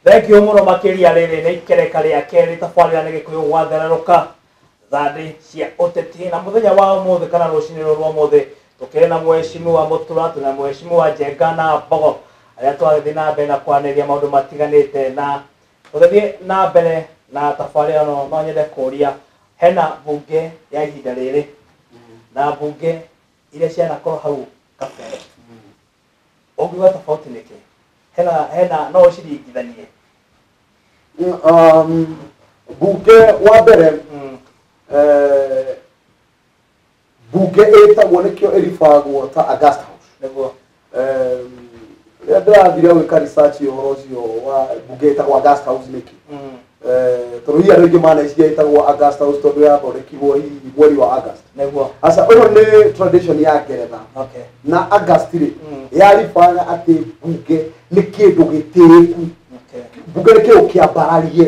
thengio muno makiria riri ni ikereka ria keri tabarira ni gikuyu gwathereruka thandi cia uteti na muthenya wa umuthi kana rucini ruru rwa umuthi tukiri na mweshimu wa mutura tuna mweshimu wa jenga na mbogo aria twagithii na mbere na kwaniria maundu matiganite na Gũthiĩ na mbere na tabarĩra ĩno no nyende kũria hena mbunge ya ihinda rĩrĩ na mbunge iria cianakorwo hau kabere ũngiuga tofauti nĩ kĩ hena hena no ũciringithanie um, mbunge wa mbere Mm, eh, mbunge ĩtagwo nĩkĩo ĩribagwo ta August House nĩguo em, rĩrĩa ndĩrathire gwĩka research ũhoro ũcio wa mbunge ĩtagwo August House nĩkĩ Eh, tondũ hihi andũ aingĩ maneciria ĩtagwo August House tondũ yathondekirwo hihi mweri wa August nĩguo aca ũyũ nĩ tradition ya ngeretha okay na August rĩ Mm. yaribaga atĩ mbunge nĩ kĩndũ gĩtĩĩku okay mbunge nĩ kĩndũ kĩambararie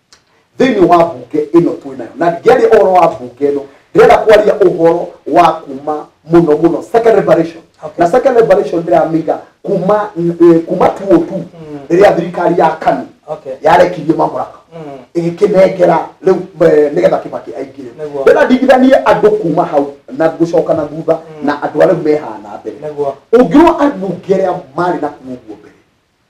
thĩinĩ wa mbunge ĩno twĩ nayo na ndingĩaria ũhoro wa mbunge ĩno ndĩrenda kwaria ũhoro wa kuma mũno mũno second liberation Okay. na second liberation ndĩramĩiga kuma eh, kuma tuo tu rĩrĩa thirikari ya kanu Okay. yarekirie mamũraka Mm. ĩgĩkĩnengera rĩu eh, nĩgetha kĩbaki aingire Nĩguo. ndĩrenda ndigithanie andũ kuma hau na gũcoka na thutha na andũ arĩa mehana mbere Nĩguo. ũngĩrwo ambunge arĩa marĩ na kuo guo mbere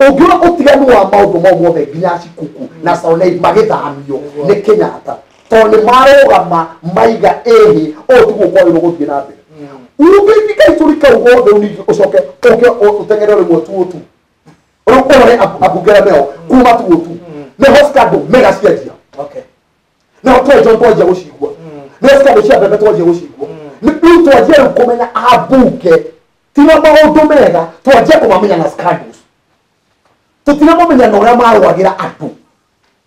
ũngĩona ũtiganu wa maũndũ mau mothe nginya cikuku na sonei magĩthamio nĩ kenyatta tondũ nĩ marũgama maiga ĩhĩ ũũ ti gũkwagĩrwo gũthiĩ na mbere urugĩti kaitũri kau gothe ũnigi ũcoke ũke ũteng'ere ũrĩ mwetu ũtu rĩu ũrore ambungere meo kuma tu ũtu nĩho scandal mega cianjia Okay. nao twenjwo twanjia gũcigua nĩo cikandũ cia mbembe twanjia gũcigua rĩu twanjia rĩu kũmenya ambunge ti na maũndũ mega twanjia kũmamenya na scandals tũtiramamenya na ũrĩa marwagĩra andũ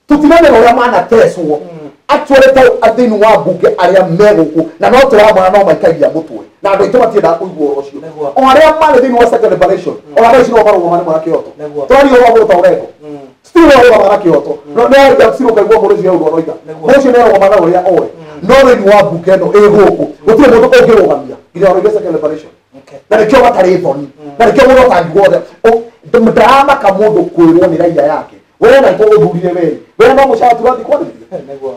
tũtiramenya ũrĩa manatecwo actually ta thĩinĩ wa mbunge arĩa megũkũ na no tũramona no maikagia mũtwe na andũ aitũ matiendaga kũigua ũhoro ũcio Nĩguo. o arĩa marĩ thĩinĩ wa second liberation o arĩa ici no marũgama nĩ mwana kĩoto Nĩguo. twaria ũhoro wa mũndũ ta ũrengo ti ũhoro ũrogana na kĩoto no nĩ arĩkia gũcirwo ũkaigua mũndũ ũcio ũrĩa ũroiga mũndũ ũcio nĩ arogoma na ũrĩa oĩ no thĩinĩ wa mbunge ĩno ĩ gũkũ gũtirĩ mũndũ ũngĩrũgamia nginya ũroige second liberation Okay. na nĩkĩo matarĩ thoni na nĩkĩo mũndũ atangigwo othe ndaramaka mũndũ kwĩrwo nĩ raiya yake wee na itũ ũthurire wee wee no mũcara turathi kwarĩria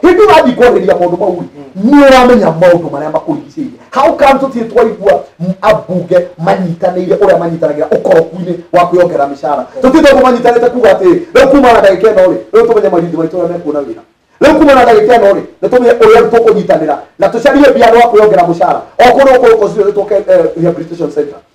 hĩndĩ ũrathiĩ kwarĩria maũndũ mau nĩ ũramenya maũndũ marĩa makũrigicĩirie hau kanjũ tirĩ twaigua m- ambunge manyitanĩire ũrĩa manyitanagĩra ũkoroku-inĩ wa kwĩongerera mĩcara tũtirĩ twaigua manyitanĩte kuga atĩ rĩu kuma na ndagĩka ĩno rĩ rĩu tũmenye marithi maitũ ũrĩa mekuona wĩra rĩu kuma na ndagĩka ĩno rĩ nĩ tũmenye ũrĩa tũkũnyitanĩra na tũcarie mbia wa kwĩongera mũcara o kũndũ gũkũ gũkũ ciothe tũke eh, rehabilitation center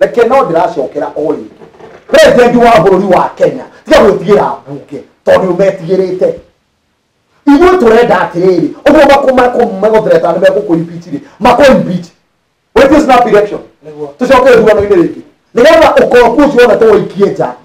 reke no ndĩracokera o rĩngĩ president wa bũrũri wa kenya tiga gwĩtigĩra mbunge tondũ ũmetigĩrĩte ithuĩ tũrenda atĩrĩrĩ ũguo makũmegũthereta nĩ megũkũimpeach rĩ makũimpeach wĩtie snap election Nĩguo. tũcoke ithurano-inĩ rĩngĩ nĩgetha ũkombu ũcio wonete waikie nja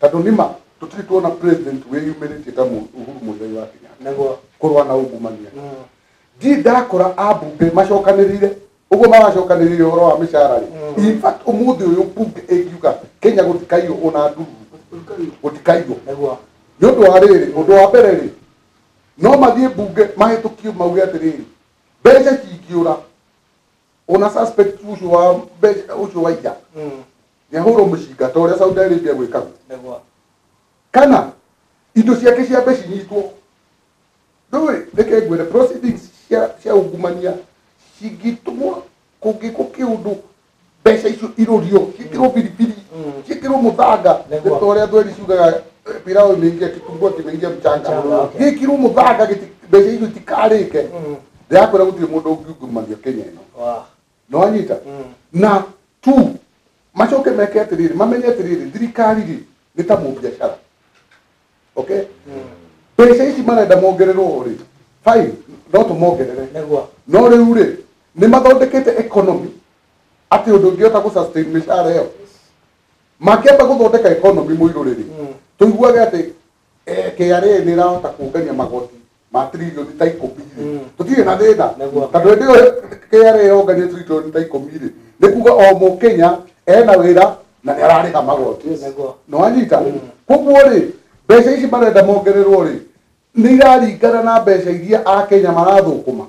Tondũ nĩma tũtirĩ tuona president wĩyumĩrĩtie ta Mu- Uhuru Muigai wa Kenyatta nĩguo kũrũa na ungumania. mm, Ndirĩ ndakora ambunge macokanĩrĩire ũguo maracokanĩrĩire ũhoro wa mĩcara rĩ. Mm. In fact ũmũthĩ ũyũ mbunge ĩngiuga Kenya gũtikaiywo ona nduru gũtikaiywo nĩguo nĩ ũndũ wa rĩrĩ ũndũ wa mbere rĩ no mathiĩ mbunge mahĩtũkie mauge atĩrĩrĩ mbeca cingĩũra ona suspect ũcio wa mbeca ũcio wa ija mm, nĩ ahũrwo mũcinga ta ũrĩa Saudi Arabia gwĩkaga nĩguo kana indo ciake cia mbeca inyitwo ndũĩ reke ngwĩre proceedings cia cia ungumania cingĩtũmwo kũngĩkwo kĩũndũ mbeca icio irũrio ciĩkĩrwo biribiri Mm. ciĩkĩrwo mũthanga Nĩguo. ta ũrĩa thweri ciugaga eh, pilau imeingia kitumbua kimeingia mchanga Mchanga, okay. gĩkĩrwo mũthanga gĩti- mbeca icio itikarĩke Mm. ndĩrakwĩra gũtirĩ mũndũ ũngiungumania kenya ĩno wa nĩwanyita na tu macoke meke atĩrĩrĩ mamenye atĩrĩrĩ thirikari rĩ nĩ ta mũbiacara okay mbeca ici marenda mongererwo rĩ fine no tũmongerere Nĩguo. no rĩu rĩ nĩ mathondekete economy atĩ ũndũ ũngĩhota gũ sustain mĩcara ĩyo makĩamba gũthondeka economy mũirũ rĩrĩ tũiguage atĩ Eh, KRA nä ĩrahota kũngania magoti ma trilioni ta ikũmi rĩ Mm. tũtirĩ na thĩna Nĩguo. tondũ hĩndĩ ĩyo KRA yongania trilioni ta ikũmi rĩ nĩ kuga o mũkenya ena wĩra na nĩ ararĩ ha magoti Nĩguo. nä wanyita Mm. koguo rä mbeca ici marenda mongererwo rä nä iraringana na mbeca iria akenya marathå kå ma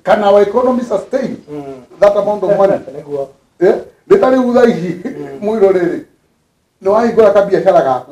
kana our economy sustain Mm. that amount of money Nĩguo. Eh, nä ta rä u tha ici mwä rorä rä nä wahingå ra kabiacara gaku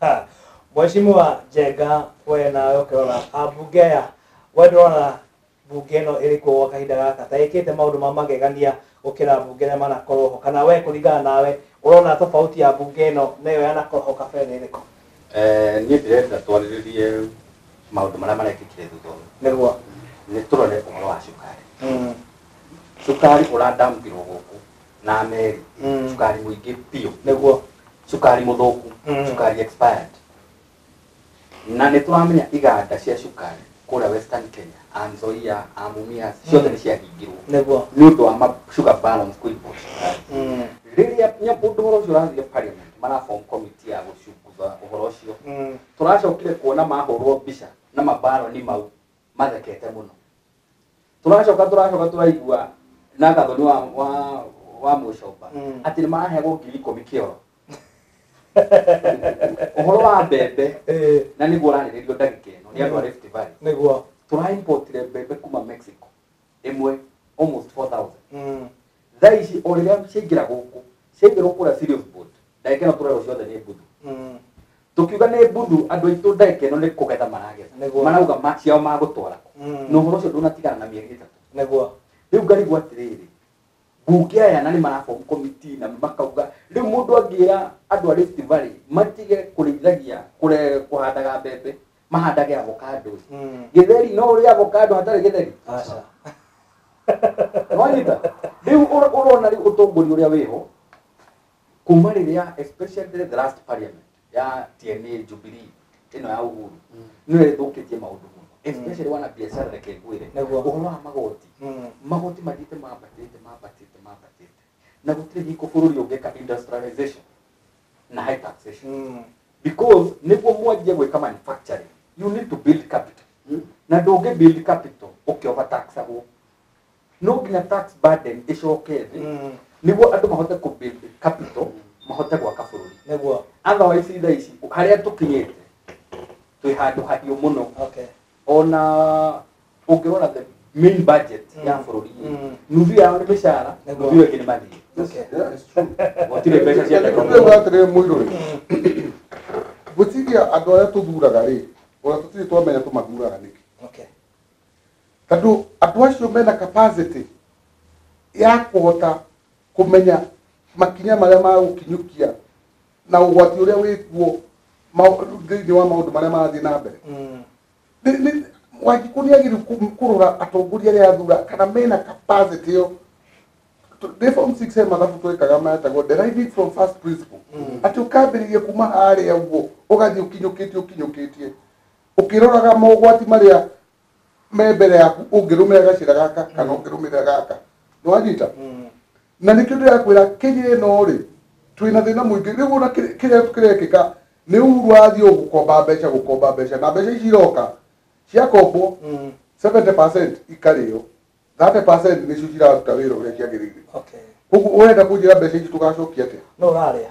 Ha, Mheshimiwa Njenga, we nawe ũkĩrora ambunge aya, we ndũrona mbunge ĩno ĩrĩ kuo gwa kahinda gaka ta ĩkĩte maũndũ ma magegania gũkĩra mbunge ĩrĩa manakorwo ho, kana we kũringana nawe ũrona tofauti ya mbunge ĩno na ĩyo yanakorwo ho kabere nĩ ĩrĩkũ? Eh, niĩ ndĩrenda twarĩrĩrie maũndũ marĩa marekĩkire thutha ũyũ Nĩguo. nĩ tũrore ũhoro wa cukari Mm. cukari ũradampirwo gũkũ na meri Mm. cukari mũingĩ biũ nĩguo cukari mũthũku Mm. cukari expired na nĩ tũramenya iganda cia cukari kũrĩa western kenya anzoia amumias ciothe nĩ ciahingirwo nĩguo nĩ ũndũ wa ma- sugar balance kũimbũra cukari Mm. rĩrĩa nya- ũndũ ũhoro ũcio ũrathiĩ parliament marabom komiti ya gũcunguza ũhoro ũcio Mm. tũracokire kuona mahũrwo mbica na mabaroni mau mathekete muno turacoka turacoka turaigua na gathoni wa wa wa mucoba Mm. ati ni marahegwo ngiri ikumi kioro uhoro wa mbembe Eh, na niguo urariririo ndagika ino ni andu a Rift Valley niguo turaimportire mbembe kuma Mexico ĩmwe almost 4000 Mm. thaa ici o rĩrĩa ciaingĩra gũkũ ciaingĩrwo kũrĩa serious boat ndagĩka ĩno tũrerwo ciothe nĩ mbuthu Mm. tũkiuga nĩ mbuthu andũ aitũ ndagĩka ĩno nĩ kũgetha Nĩguo. maragetha marauga ma- ciao magũtwara kũ Mm. na ũhoro ũcio ndũnatigana na mĩeri ĩtatũ Nĩguo. rĩu ngarigwo atĩrĩrĩ mbunge aya na nĩ marabomu komiti na makauga rĩu mũndũ angĩra andũ a Rift Valley matige kũrĩithagia kũre- kũhandaga mbembe mahandage avocado Mm. githeri no uri avocado hatari githeri Aca. wanyita riu ur- urona riu utongori uria wiho kuma riria especially the last parliament ya tna jubilee ino ya uhuru Mm. niyo ithukitie maundu muno especially wana biashara reke ngwire Nĩguo. uhoro wa magoti Mm. magoti mathiĩte mambatĩte mambatĩte mambatĩte na gũtirĩ hingo bũrũri ũngĩka industrialization na high taxation Mm. because nĩguo mwanjie gwĩka manufacturing you need to build capital Mm. na ndũngĩ build capital ũkĩoba taxagwo no nginya tax burden ĩcoke thĩ Mm. nĩguo andũ mahote kũ build capital mahote gwaka bũrũri nĩguo otherwise thaa ici harĩa tũkinyĩte twĩ handũ hariũ mũno okay ona ũngĩrora the main budget ya bũrũri nuthu yao nĩ mĩcara nuthu ĩyo ĩngĩ nĩ mathirĩ gũtirĩ mbeca cia teknolojia atĩrĩrĩ mũirũ rĩ gwĩciria andũ arĩa tũthuraga rĩ ona tũtirĩ twamenya tũmathuraga nĩkĩ tondũ andũ acio mena capacity ya kũhota kũmenya makinya marĩa magũkinyũkia na ũgwati ũrĩa wĩ kuo mau- thĩinĩ wa maũndũ marĩa marathiĩ na mbere Mm. Nĩ- nĩ- wanjikũ nĩ agĩrĩru kũrora atongoria arĩa athura kana mena capacity ĩyo Tu- nĩ form six he mathabu twekaga metagwo deriving from first principle atĩ ũkambĩrĩria kuma harĩa ũguo ũgathiĩ ũkinyũkĩtie ũkinyũkĩtie ũkĩroraga mogwati marĩa me mbere yaku ũngĩrũmĩra gacĩra gaka kana ũngĩrũmĩra gaka nĩwanyita na nĩkĩo ndĩrakwĩra kenya ĩno rĩ twĩna thĩna mũingĩ rĩu ona kĩrĩ- kĩrĩa kĩrekĩka nĩ uhuru athiĩ o gũkomba mbeca gũkomba mbeca na mbeca ici iroka ciakombwo 70 ikarĩo 30 nĩcio ciraruta wĩra ũrĩa ciagĩrĩire okay koguo ũrenda kũnjĩra mbeca ici tũgacokia atĩa no ũrarĩa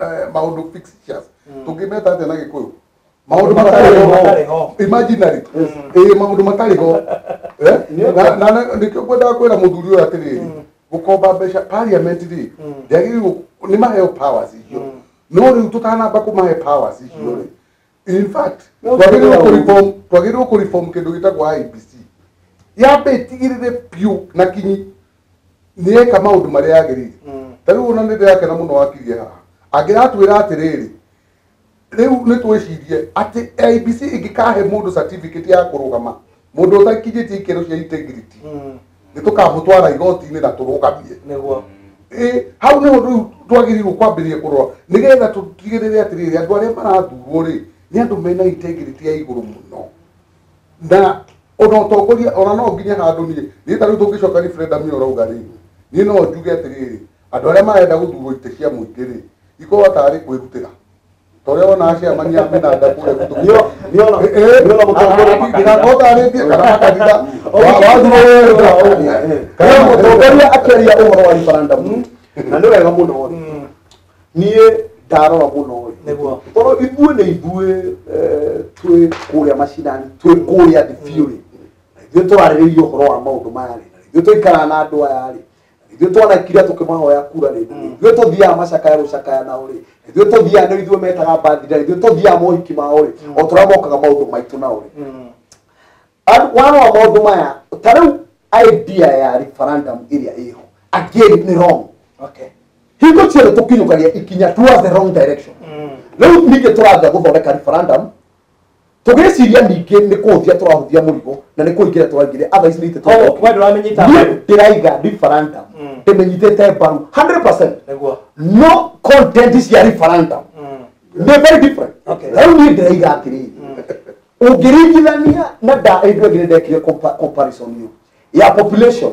eh, maundu fictitious tungimeta atia na gikuyu maundu matari ho Matarĩ ho. imaginary eh maundu matari ho eh na na- na nikio ngwenda kwira muthuri uyu atiriri gukomba mbeca parliament ri yagiriwo ni maheo powers icio no riu tutanamba kumahe powers icio ri in fact No, twagĩrĩirwo no. kũreform twagĩrĩirwo kũreform kĩndũ gĩtagwo IBC yambe ĩtigĩrĩre biũ na kinyi nĩyeka maũndũ marĩa yagĩrĩire Mm. ta rĩu ona nĩ ndĩrakena mũno wakirie haha angĩratwĩra atĩrĩrĩ rĩu nĩ twĩcirie atĩ IBC ĩngĩkahe mũndũ certificate ya kũrũgama mundu utakinyĩtie ikĩro cia integrity Mm. nĩ tũkamũtwara igoti-inĩ na tũrũgamie nĩguo Ĩ, hau nĩho rĩu twagĩrĩirwo kwambĩrĩria kũrora nĩgetha tũtigĩrĩre atĩrĩrĩ andũ arĩa marathurwo rĩ nĩ andũ mena integrity ya igũrũ mũno na ona ũtongoria ona no nginya handũ niĩ niĩ ta rĩu tũngĩcoka referendum ĩyo ũrauga rĩ niĩ no njuge atĩrĩrĩ andũ arĩa marenda gũthurwo itĩ cia mũingĩ rĩ ikorwo tarĩ kwĩrutĩra ta ũrĩa wona acemania mĩnanda kũrĩa gũtũ Nĩo- nĩona- nĩona mũtongoria wa kanitha. ndirakotarĩtie kana makanitha wathuro wega Kana mũtongoria akĩaria ũhoro wa referendum na nĩ wega mũno rĩ niĩ ndarora mũno rĩ Nĩguo. tondũ ithuĩ nĩ ithuĩ eh, twĩ kũrĩa macinani twĩ kũrĩa thibiũ rĩ na ithuĩ tũrarĩrĩirie ũhoro wa maũndũ maya rĩ na ithuĩ tũikaraga na andũ aya rĩ ithuĩ twanakira tũkĩmahoya kura rĩ ithuĩ tũthiaga macakaya gũcakaya nao rĩ ithuĩ tũthiaga nĩ ithuĩ metaga mbathira rĩ ithuĩ tũthiaga mohiki mao rĩ o tũrĩa mokaga maũndũ maitũ nao rĩ Ar- warora maũndũ maya ta rĩu idea ya referendum ĩrĩa ĩho again nĩ wrong okay hingo ciothe tũkinyũkagia ikinya towards the wrong direction rĩu ningĩ tũrambia gũthondeka referendum tũgĩciria ningĩ nĩ kũhũthia tũrahũthia mũrigo na nĩ kũingĩra tũraingĩra otherwise nĩ itĩ Koguo we ndũramenyita Niĩ mbaru. ndĩraiga referendum Mm. ndĩmenyithĩte mbaru 100% Nĩguo. no content cia referendum Mm. nĩ very different Okay. rĩu niĩ ndĩraiga atĩrĩrĩ ũngĩringithania na nda ĩndũ ĩngĩ nĩ ndekire compa- comparison ĩyo ya population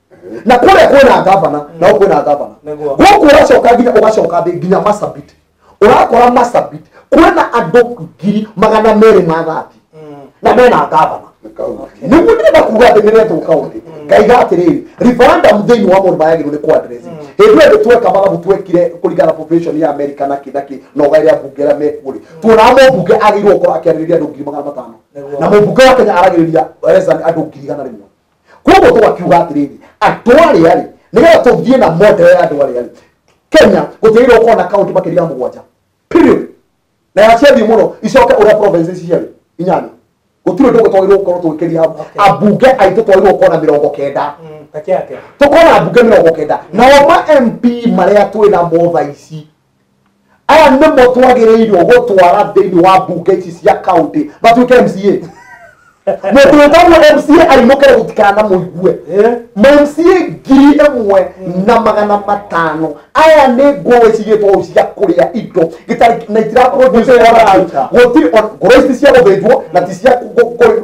na kũrĩa kwĩna ngavana na gũkũ kwĩna ngavana Nĩguo. gũkũ ũracoka nginya ũgacoka thĩ nginya masabit ũrakora masabit kwĩna andũ ngiri magana merĩ ma thati na mena ngavana nĩguo ndĩrenda kuga atĩ nĩretwo kaũndĩ ngaiga atĩrĩrĩ referendum thĩinĩ wa mũndũ mayagĩrwo nĩ kwadresi hĩndĩ ĩyo tweka mathabu twekire kũringana population ya america na kĩ na kĩ na ũgaĩrĩa mbunge ĩrĩa mekuo rĩ tuonaga mũmbunge agĩrĩirwo gũkorwo akĩarĩrĩria andũ ngiri magana matano Nĩguo. na mũmbunge wa kenya aragĩrĩria less than andũ ngiri igana rĩmwe koguo tũgakiuga atĩrĩrĩ andũ arĩa rĩ nĩgetha tũthiĩ na model ya andũ arĩa rĩ kenya gũtigaire ũkorwo na kaunti makĩria ya mũgwanja period na yaciathiĩ mũno icoke ũrĩa province ici ciarĩ inyanya gũtirĩ ũndũ ũngĩ twagĩrĩirwo gũkorwo tũgĩkĩria Okay. ambunge aitũ twagĩrĩirwo gũkorwo na mĩrongo kenda Peke yake. tũkorwo na mbunge mĩrongo kenda nao ma mp marĩa twĩ namo thaa ici aya nĩmo twagĩrĩirwo gũtwara thĩinĩ wa mbunge ici cia kaunti matuĩke mca mũndũ wĩtagwo mca ainũkĩre gũtikana mũigue ma mca ngiri ĩmwe na magana matano aya nĩ ngũĩ cigĩtwo ũũ cia kũrĩa indo gĩtarĩ na itiraproduce Gũtirĩ ona- gũtirĩ ona- ngũrũ ici cia gũthĩnjwo na ti cia kũ- kũ- kũ-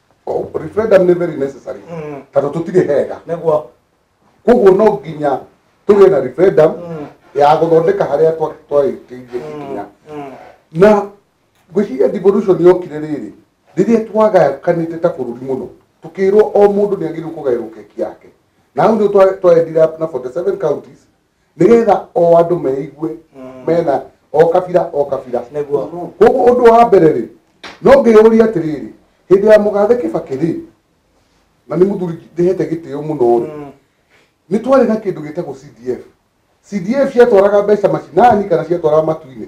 O- referendum nĩ very necessary Mm. tondũ tũtirĩ hega nĩguo koguo no nginya tũgĩe na referendum Mm. ya gũthondeka harĩa twa- twarĩkĩirie ikinya Mm. na ngwĩciria devolution yokire rĩrĩ rĩrĩa twagakanĩte ta bũrũri mũno tũkĩrwo o mũndũ nĩ agĩrĩirwo kũgaĩrwo keki yake na hau nĩ twendire na 47 counties nĩgetha o andũ meigue mm. mena o kabira o kabira koguo ũndũ wa mbere rĩ no ngĩyũria atĩrĩrĩ hĩndĩ ya mũgathe kĩbakĩ rĩ na nĩ mũthuri ndĩhete gĩtĩo mũno rĩ mm. nĩ twarĩ na kĩndũ gĩtagwo cdf cdf ciatwaraga mbeca macinani kana ciatwaraga matu-inĩ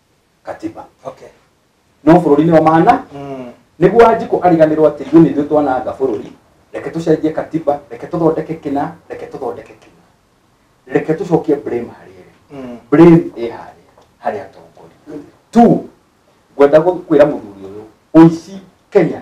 katiba Okay. no bũrũri-inĩ wa mahana Mm. nĩguo wanjikũ ariganĩrwo atĩ ithuĩ nĩithuĩ twananga bũrũri reke tũcenjie katiba reke tũthondeke kĩna reke tũthondeke kĩna reke tũcokie blame harĩ ĩrĩ Mm. blame ĩ harĩ harĩ atongoria tu ngwenda gũ- kwĩra mũthuri ũyũ ũici kenya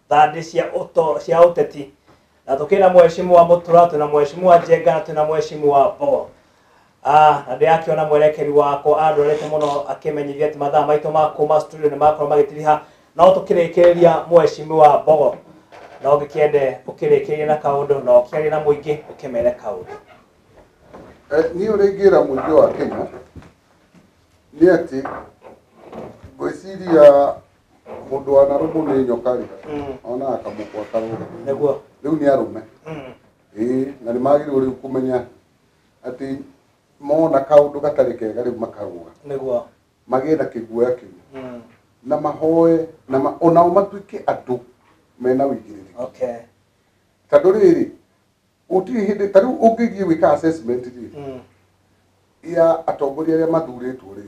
thandi cia uto cia uteti na tukina mheshimiwa mutura tuna mheshimiwa jenga na tuna mheshimiwa bo Ah, na ndĩrakiona mwerekeri wakwa andorete mũno akĩmenyithia atĩ mathaa maitũ ma kuma studio nĩ makorwo magĩtiriha no tũkĩrĩkĩrĩria mheshimiwa mbogo na ũngĩkĩende ũkĩrĩkĩrĩria na kaũndũ na ũkĩaria na mũingĩ ũkĩmere kaũndũ Eh, niĩ ũrĩa ingĩra mũingĩ wa kenya nĩ atĩ ngwĩciria mũndũ wanarũmũ nĩ nyoka-rĩ Mm. onaga kamũkwa karũga Nĩguo. rĩu nĩ arũme Mm. ĩĩ na nĩ magĩrĩirwo rĩu kũmenya atĩ mona kaũndũ gatarĩ kega rĩu makarũga Nĩguo. magĩe na kĩguoya kĩu Mm. na mahoe na ma, onao matuĩke andũ mena ũigĩrĩrĩki Okay. tondũ rĩrĩ gũtirĩ hĩndĩ ta rĩu ũngĩthiĩ gwĩka assessment rĩ Mm. ya atongoria arĩa mathurĩtwo rĩ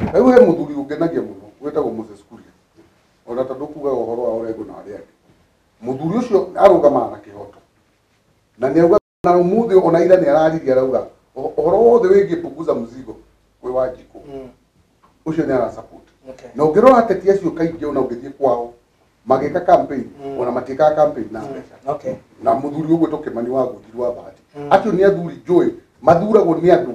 Rĩu he mũthuri ũngenagia mũno wĩtagwo Moses Kuria, ona ta ndũkugaga ũhoro wa Orengo na arĩa angĩ. Mũthuri ũcio arũgamaga na kĩhoto na nĩ auga na ũmũthĩ ona ira nĩ araririe arauga "Ũho- ũhoro wothe wĩgiĩ punguza mzigo wĩ wa njikũ Mm. ũcio nĩ ara support Okay. na ũngĩrora ateti acio kaingĩ ona ũngĩthiĩ kwao magĩka campaign Mm. ona matiĩkaga campaign na mbeca Okay. na muthuri ũgwĩtwo kĩmani wa gũthirwo wa bahati Mm. acio nĩ athuri njũĩ mathuragwo nĩ andũ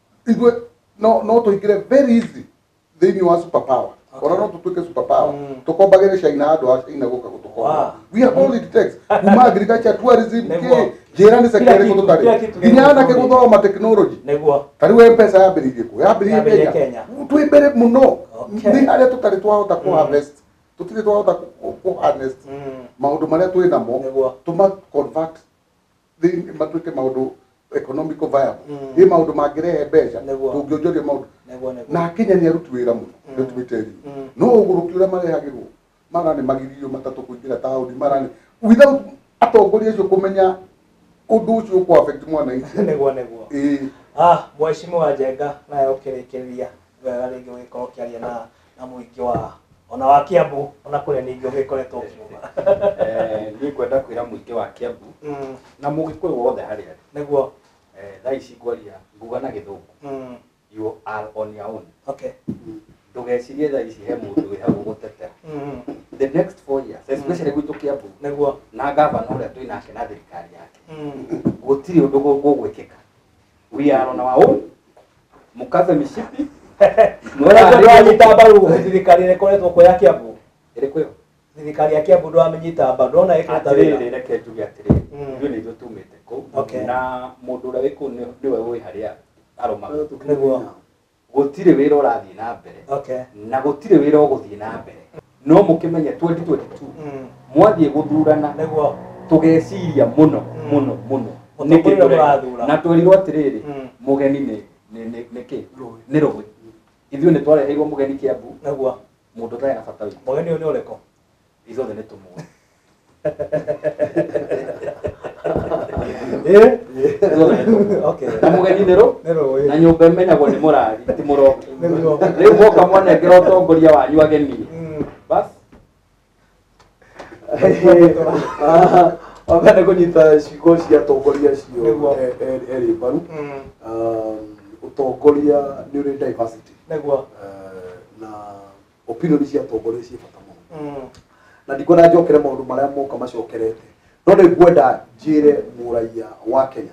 ithuĩ no no tũingĩre very easy thĩinĩ wa super power ona no tũtuĩke super power tũkombagĩre caina andũ a caina gũka gũtũkomba we are all it takes kuma agriculture tourism kĩ njĩra nĩ sekta ĩrĩkũ tũtarĩ nginya anake gũthoma tekinoronjĩ ta rĩu mpesa yambĩrĩirie kũ yambĩrĩirie kenya twĩ mbere mũno nĩ harĩa tũtarĩ twahota kũ harvest tũtirĩ twahota kũ harnest maũndũ marĩa twĩ namo tũma convert thĩinĩ matuĩke maũndũ economical viable Mm. ĩ maũndũ mangĩrehe mbeca Nĩguo. tũngĩonjoria maũndũ Nĩguo, nĩguo. na kenya nĩ aruti wĩra mũno Mm. nĩ tumĩte Mm. riu no ũgũrũki ũrĩa marehagĩrwo mara nĩ magiririo matatũ kũingĩra taũni mara nĩ without atongoria acio kũmenya ũndũ ũcio ũkũ affect mwananchi Nĩguo, nĩguo. ĩĩ Ah, mheshimiwa Njenga naye ũkĩrĩkĩrĩria wega rĩngĩ ũgĩkorwo ũkĩaria na na mũingĩ wa ona wa Kiambu ona kũrĩa ningĩ ũgĩkoretwo ũkiuma Eh, niĩ ngwenda kwĩra mũingĩ wa Kiambu Mm, na mũgĩkũyũ wothe harĩa arĩ nĩguo Eh, thaa ici ngwaria nguga na gĩthũngũ Mm, you are on your own okay ndũgecirie thaa ici he mũndũ wĩ hau gũtetera Mm, the next four years especially gwitũ Kiambu nĩguo na ngavana ũrĩa twĩ nake na thirikari yake Mm, gũtirĩ ũndũ gũgwĩkĩka We are on our own. Mkaze mishipi. Mwana ndio anyita mbaru thirikari ĩrĩa ĩkoretwo kuo ya Kiambu. Ĩrĩkũ ĩyo? Thirikari ya Kiambu ndio amenyita mbaru. Ndona ĩkĩruta wĩra. Atĩrĩrĩ reke njuge atĩrĩrĩ. Mm. Ithuĩ nĩ ithuĩ tumĩte kũu. Okay. Na mũndũ ũrĩa wĩ kũu nĩ- nĩwe ũĩ harĩa arũmaga. Nĩguo. gũtirĩ wĩra ũrathiĩ na mbere Okay. na gũtirĩ wĩra ũgũthiĩ na mbere no mũkĩmenye 2022 Mm. mwathiĩ gũthurana Nĩguo. tũgeciria mũno Mm. mũno mũno Mũtongoria Nĩkĩ tũreka? mũrathura. na twerirwo atĩrĩrĩ Mm. mũgeni nĩ nĩ- nĩ- nĩ kĩ Rũĩ. nĩ rũĩ ithuĩ nĩ twareheirwo mũgeni kĩambu Nĩguo. mũndũ ũtarĩ na bata witũ Mũgeni ũyũ nĩ ũrĩkũ? ithuothe nĩ tũmwe Eh? Ithuothe nĩ tũmwe. Okay. na mũgeni nĩ rũ Nĩ rũĩ. na nyũmba ĩmenyagwo nĩ mũrari ti mũroki Nĩ mũroki. rĩu mwoka mwanengera ũtongoria wanyu ageni bas wambe nĩ kũnyita ciugo cia atongoria acio Nĩguo. e- e- erĩ mbaru Mm. Um, ũtongoria nĩ ũrĩ diversity Nĩguo. Eh, na opinion cia atongoria ciĩ bata mũno na ndikwenda njokere maũndũ marĩa moka macokerete no nĩ ngwenda njĩre mũraiya wa kenya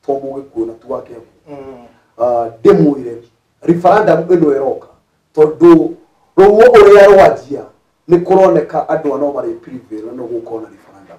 to mũgĩkuũ na tu wa kenya Ah, ndĩmwĩre referendum ĩno ĩroka tondũ rũo ũrĩa rwanjia nĩ kũroneka andũ anao marĩ prevail na nĩ gũkorwo na referendum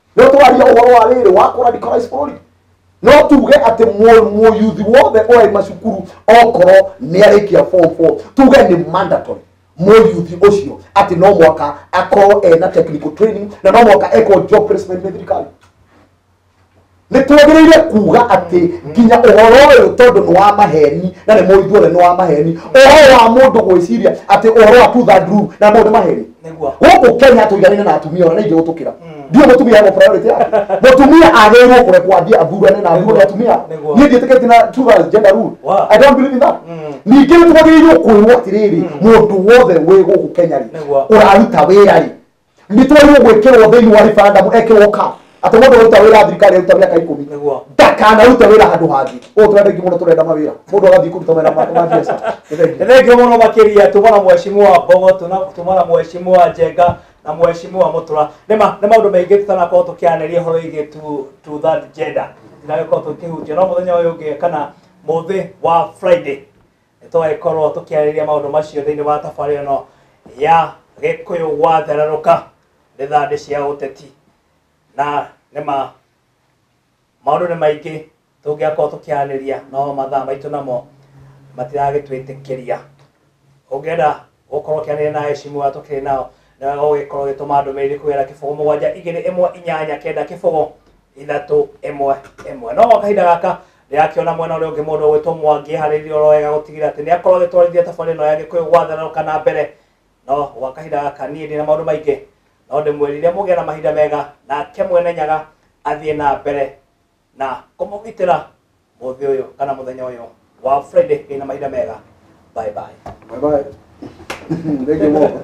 no twaria ũhoro wa rĩrĩ wa kũradicalize bũrũri no tuge atĩ mũ- mũyuthi wothe oĩ macukuru okorwo nĩ arĩkia form four tuge nĩ mandatory mũyuthi ũcio atĩ no mwaka akorwo ena technical training na no mwaka ekwo job placement nĩ thirikari nĩ twagĩrĩire kuga atĩ nginya ũhoro ũyũ tondũ nĩ wa maheni na nĩ mũithuothe nĩ wa maheni ũhoro wa mũndũ gwĩciria atĩ ũhoro wa tutha nduru na mũndũ maheni gũkũ kenya tũiganĩne na atumia ona nĩ ingĩ gũtũkĩra ndiũ mũtumia hena priority yake mũtumia agĩrĩirwo kũrekwo athiĩ athurane na athurwo nĩ atumia Nĩguo. niĩ ndiĩtĩkĩtie na two girls gender rule Wow. i don't believe in that ningĩ nĩ twagĩrĩirwo kwĩrwo atĩrĩrĩ mũndũ wothe wĩ gũkũ kenya rĩ Nĩguo. ũraruta wĩra rĩ nĩ twagĩrĩirwo gwĩkĩrwo thĩinĩ wa referendum ekĩrwo ka atĩ mũndũ ũruta wĩra thirikari aruta mĩaka ikũmi Nĩguo. ndakanarute wĩra handũ hangĩ ũũ tũrenda ingĩ mũno tũrenda mawĩra mũndũ agathiĩ kũruta wĩra ma ma biacara Nĩ thengiũ. Nĩ thengiũ mũno makĩria tuma na mheshimiwa Mbogo tuna- tuma na mheshimiwa Njenga na mheshimiwa Mũtũra nĩ ma- nĩ maũndũ maingĩ tũtanakorwo tũkĩanĩria ũhoro wĩgiĩ tu- tu that gender tũtagĩkorwo tũkĩhunjia no mũthenya ũyũ ũngĩ kana mũthĩ wa Friday tũgagĩkorwo tũkĩarĩria maũndũ macio thĩinĩ wa tabarĩra ĩno ya gĩkũyũ gwathererũka nĩ thandĩ cia ũteti na nĩ ma maũndũ nĩ maingĩ tũngĩakorwo tũkĩarĩria no mathaa maitũ namo matiragĩtwĩtĩkĩria ũngĩenda gũkorwo ũkĩarĩria na ecimu wa tũkĩrĩ nao nĩ wega gũgĩkorwo ũgĩtũma ndũmĩrĩri kũgera kĩbogo mũgwanja igĩrĩ ĩmwe inyanya kenda kĩbogo ithatũ ĩmwe ĩmwe no gwa kahinda gaka ndĩrakĩona mwena ũrĩa ũngĩ mũndũ ũgwĩtwo mwangi harĩirie oro wega gũtigĩrĩra atĩ nĩ akorwo agĩtwarithia thabarĩ ĩno ya gĩkũyũ gwathana kana mbere no gwa kahinda gaka niĩ ndĩ na maũndũ maingĩ no ndĩmwĩrire mũgĩe na mahinda mega nake mwene nyaga athiĩ na mbere na kũmũgitĩra mũthĩ ũyũ kana mũthenya ũyũ wa friday ĩ na mahinda mega bye bye Bye bye. Thank you, Mom.